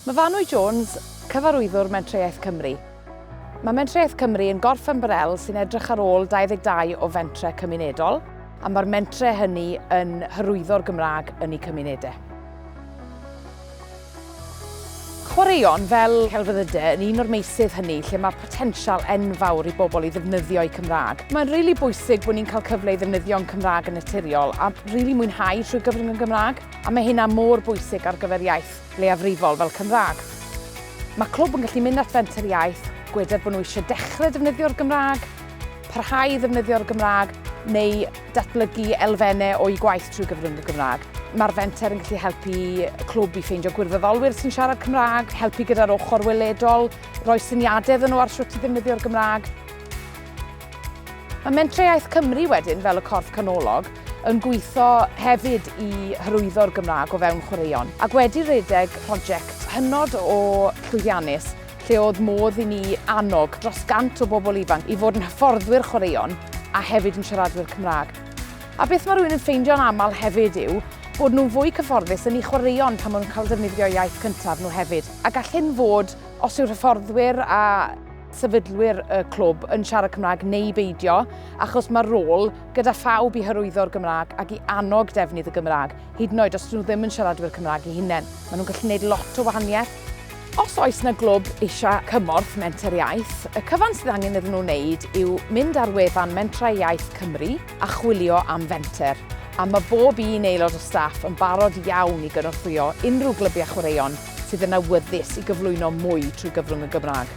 Mae Fanwy Jones, Cyfarwyddwr Mentrau-iaith Cymru. Mae Mentrau-iaith Cymru yn gorff ymbarel sy'n edrych ar ôl 22 o fentrau cymunedol a mae'r mentrau hynny yn hyrwyddo'r Gymraeg yn eu cymunedau. Chwaraeon fel celfyddydau yn un o'r meysydd hynny lle mae potensial enfawr i bobl i ddefnyddio eu Cymraeg. Mae'n rili really bwysig bod ni'n cael cyfle i ddefnyddio'n Cymraeg yn naturiol a rili really mwynhau trwy gyfrwng yn Gymraeg. A mae hynna mor bwysig ar gyfer iaith leiafrifol fel Cymraeg. Mae clwb yn gallu mynd at fenter iaith, gweder bod nhw eisiau dechrau defnyddio'r Gymraeg, parhau i ddefnyddio'r Gymraeg, neu datblygu elfennau o'u gwaith trwy gyfrwng y Gymraeg. Mae'r fenter yn gallu helpu clwb i ffeindio gwirfoddolwyr sy'n siarad Cymraeg, helpu gyda'r ochr weledol, rhoi syniadau iddyn nhw ar sut i ddefnyddio'r Gymraeg. Mae Mentrau Iaith Cymru wedyn, fel y corff canolog, yn gweithio hefyd i hyrwyddo'r Gymraeg o fewn chwaraeon, ac wedi rhedeg prosiect hynod o llwyddiannus lle oedd modd i ni annog dros gant o bobl ifanc i fod yn hyfforddwyr chwaraeon a hefyd yn siaradwyr Cymraeg. A beth mae rhywun yn ffeindio'n aml hefyd yw bod nhw'n fwy cyfforddus yn eu chwaraeon pan maen nhw'n cael defnyddio iaith cyntaf nhw hefyd, a gall hyn fod os yw'r hyfforddwyr a sefydlwyr y clwb yn siarad Cymraeg neu beidio, achos mae'r rôl gyda phawb i hyrwyddo'r Gymraeg ac i annog defnydd y Gymraeg, hyd yn oed os nhw ddim yn siaradwyr Cymraeg i hunain. Maen nhw'n gallu gwneud lot o wahaniaeth. Os oes na glwb eisiau cymorth menter iaith, y cyfan sydd angen iddyn nhw wneud yw mynd ar wefan Mentrau Iaith Cymru a chwilio am fenter, a mae bob un aelod o staff yn barod iawn i gynorthwyo unrhyw glybiau chwaraeon sydd yn awyddus i gyflwyno mwy trwy gyfrwng y Gymraeg.